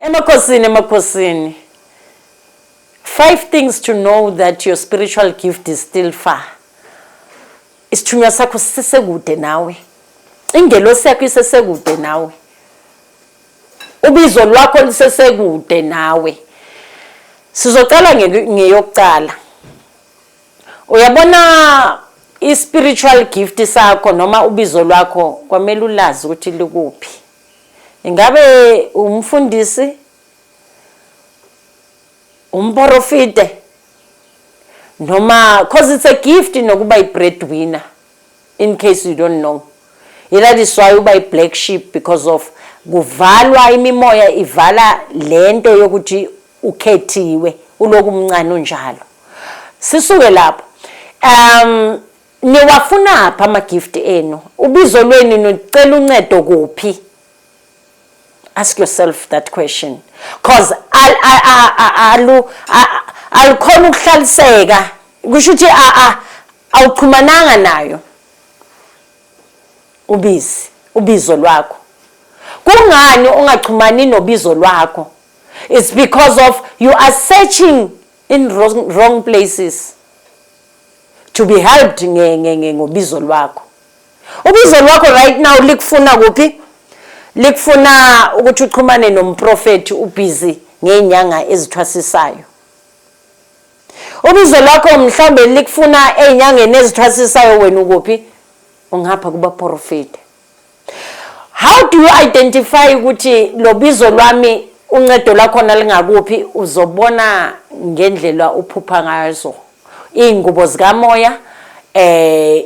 Emakhosini, emakhosini. Five things to know that your spiritual gift is still far. Isithunywa sakho sisesekude nawe. Ingelosi yakho isesekude nawe. Ubizo lwakho lisesekude nawe. Sizoqala ngeyokuqala. Uyabona i-spiritual gift sakho noma ubizo lwakho kwamele ulazi ukuthi likuphi. Ingabe umfundisi umporofite noma cause it's a gift nokuba i-breadwinner in case you don't know that is why uba i-black sheep because of kuvalwa imimoya ivala le nto yokuthi ukhethiwe uloku mncane unjalo sisuke lapho um Niwafunaphi ama gift enu? Ubizo lwenu nicela uncedo kuphi? Ask yourself that question cause al alu alukhona ukuhlaliseka kusho ukuthi a awuxhumananga nayo ubizi ubizo lwakho kungani ungaxhumani nobizo lwakho it's because of you are searching in wrong, wrong places to be helped ngobizo lwakho ubizo lwakho right now likufuna kuphi likufuna ukuthi uxhumane nomprofethi ubhizi ngey'nyanga ezithwasisayo ubizo lwakho mhlawumbe likufuna ey'nyangeni ezithwasisayo wena ukuphi ungapha kubaprofethi how do you identify ukuthi lobizo lwami uncedo lakhona lingakuphi uzobona ngendlela uphupha ngazo iy'ngubo zikamoya eh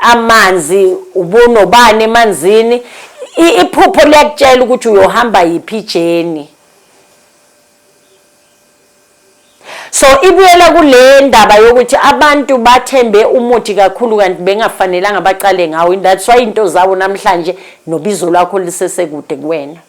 amanzi ubunobani emanzini iphupho liyakutshela ukuthi uyohamba yiphi ijeni so ibuyela kule ndaba yokuthi abantu bathembe umuthi kakhulu kanti bengafanelanga baqale ngawo in that's why into zawo namhlanje nobizo lwakho lisesekude kuwena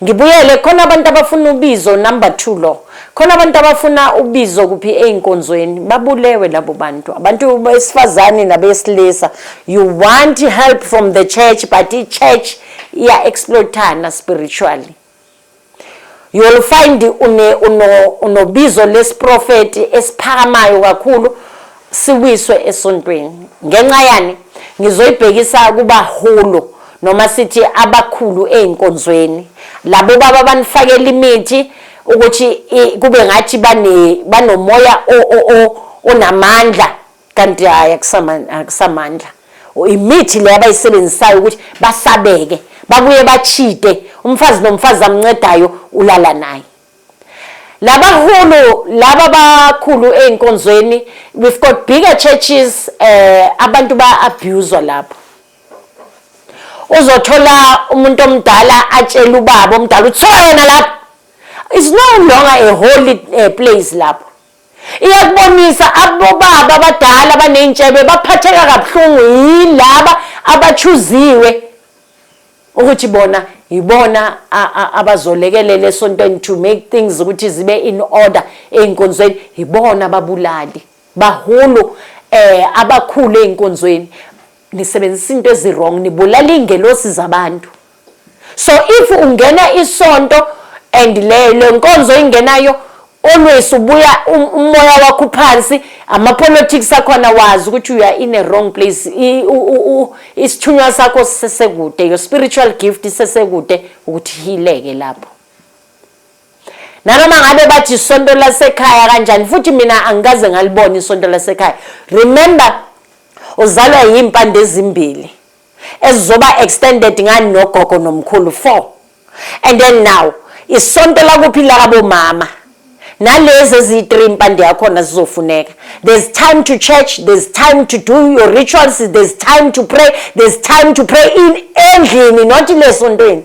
ngibuyele khona abantu abafuna ubizo number 2 lo khona abantu abafuna ubizo kuphi einkonzweni babulewe labo bantu abantu besifazane nabesilisa you want help from the church but i church iya exploitana spiritually you will find une uno unobizo lesiprofeti esiphakamayo kakhulu siwiswe esontweni ngenxa yani ngizoyibhekisa kuba hulu noma sithi abakhulu ezinkonzweni labo baba banifakela imithi ukuthi kube ngathi bane banomoya onamandla kanti hhayi akusamandla imithi le abayisebenzisayo ukuthi basabeke babuye bachite umfazi nomfazi amncedayo ulala naye labahulu laba bakhulu ezinkonzweni we've got bigger churches eh abantu ba abuse lapho uzothola umuntu omdala atshela ubaba omdala uthiwa yena lapho is no longer a holy eh, place lapho iyakubonisa abobaba abadala abaney'ntshebe baphatheka kabuhlungu yilaba abachuziwe ukuthi bona yibona abazolekelela esontweni to make things ukuthi zibe in order ey'nkonzweni yibona ababulali bahulu eh abakhulu ey'nkonzweni nisebenzisa into eziwrong nibulala iy'ngelosi zabantu so if ungena isonto and le lenkonzo ingenayo always ubuya um, umoya wakho uphansi ama politics akhona wazi ukuthi you are in a wrong place isithunywa sakho sisekude your spiritual gift isesekude ukuthi hileke lapho nanoma ngabe bathi isonto lasekhaya kanjani futhi mina angikaze ngalibona isonto lasekhaya remember uzalwa yimpande ezimbili ezizoba extended ngani nogogo nomkhulu four and then now isonto lakuphi lakabomama nalezi eziyi-three impande yakhona zizofuneka there's time to church there's time to do your rituals there's time to pray there's time to pray in endlini not le sontweni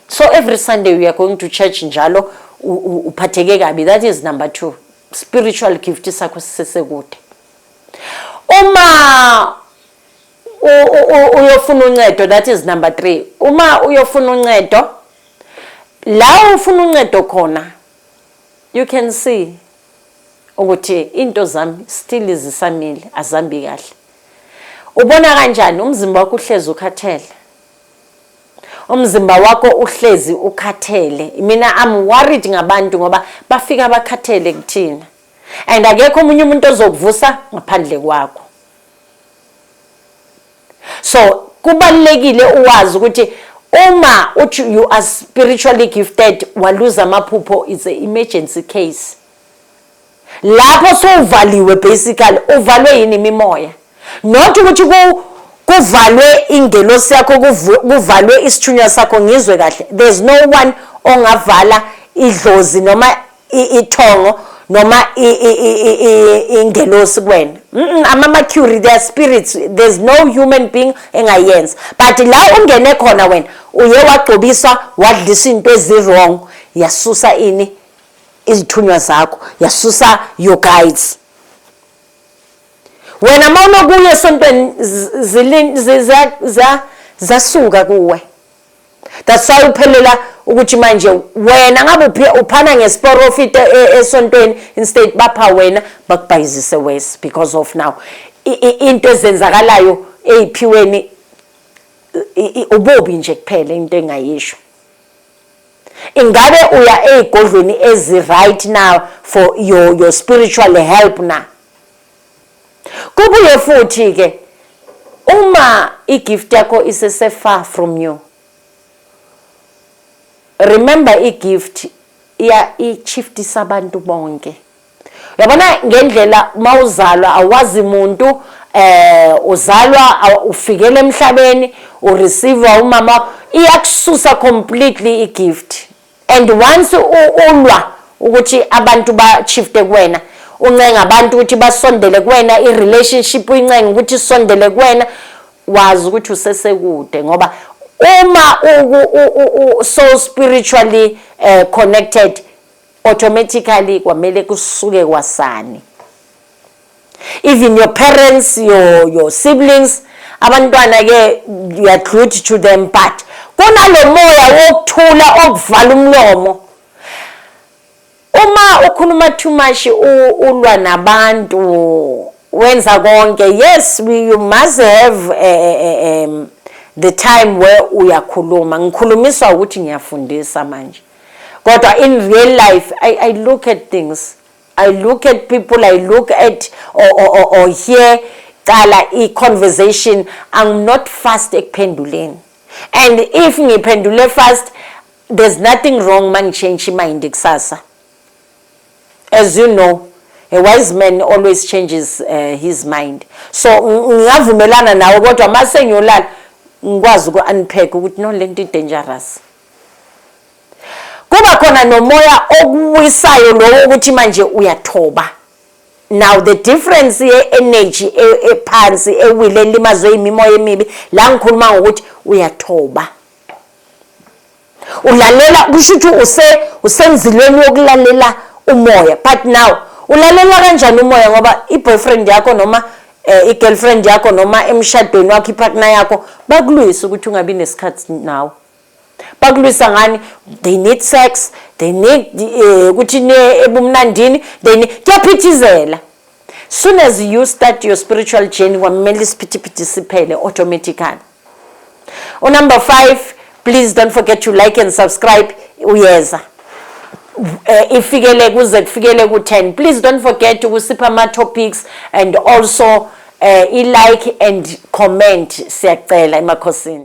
so every sunday we are going to church njalo uphatheke kabi that is number two spiritual gift sakho sisesekude Uma uyofuna uncedo that is number 3 uma uyofuna uncedo la ufuna uncedo khona you can see ukuthi into zami still zisamile azambi kahle ubona kanjani umzimba wakho uhlezi ukhathele umzimba wakho uhlezi ukhathele mina i'm worried ngabantu ngoba bafika bakhathele kuthina and akekho omunye umuntu ozokuvusa ngaphandle kwakho so kubalekile uwazi ukuthi uma uthi you are spiritually gifted waluza amaphupho is a emergency case lapho sowuvaliwe basically uvalwe yini imimoya Not ukuthi ku kuvalwe ingelosi yakho kuvalwe isithunywa sakho ngizwe kahle there's no one ongavala idlozi noma ithongo noma ingelosi kuwena ama-mercury their spirits there's no human being engayenza but la ungene khona wena uye wagcobiswa wadlisa into ezi-wrong yasusa ini izithunywa zakho yasusa your guides wena uma unokuya esontweni zasuka kuwe that's why uphelela ukuthi manje wena ngabe uphana ngesporofit e-, e-, esontweni instead bapha wena bakubhayizise worse because of now into ezenzakalayo eyiphiweni ubobi nje kuphela into engayisho Ingabe uya ezigodlweni ezi right now for your your spiritual help na? Kubuye futhi ke uma igift yakho isese far from you. Remember igift iya ichiftisa abantu bonke. yabona ngendlela mawuzalwa awazi muntu eh uzalwa ufikele emhlabeni u receive umama iyakususa completely i gift and once ulwa ukuthi abantu ba shifte kuwena uncenga abantu ukuthi basondele kuwena i relationship uyincenga ukuthi isondele kuwena wazi ukuthi usesekude ngoba uma u so spiritually eh, connected automatically kwamele kusuke kwasani even your parents your your siblings abantwana ke you are good to them but kunalomoya wokuthula okuvala umlomo uma ukhuluma too much ulwa nabantu wenza konke yes we, you must have a, eh, a, eh, eh, um, the time where uyakhuluma ngikhulumiswa ukuthi ngiyafundisa manje kodwa in real life I, I look at things I look at people I look at or, or, or, or hear cala i-conversation I'm not fast ekuphenduleni and if ngiphendule fast there's nothing wrong ma ngichange imind kusasa as you know a wise man always changes uh, his mind so ngingavumelana nawe kodwa ma sengiyolala ngikwazi uku-unpack ukuthi no le nto i-dangerous kuba khona nomoya okuwisayo lowo ukuthi manje uyathoba now the difference ye-energy e-, ephansi ewile elimazwe imimoya emibi la ngikhuluma ngokuthi uyathoba ulalela kusho ukuthi use usenzilweni yokulalela umoya but now ulalela kanjani umoya ngoba i-boyfriend yakho noma eh, i-girlfriend yakho noma emshadweni wakho i-partner yakho bakulwisa ukuthi ungabi nesikhathi nawe bakulwisa ngani they need sex they need eh, ukuthi um, niye ebumnandini they need kuyaphithizela soon as you start your spiritual journey kwamele isiphithiphithi siphele automatically unumber five please don't forget to like and subscribe uyeza Eh, ifikele kuze kufikele ku-10 please don't forget ukusipha ama-topics and also uh, i-like and comment siyacela emakhosini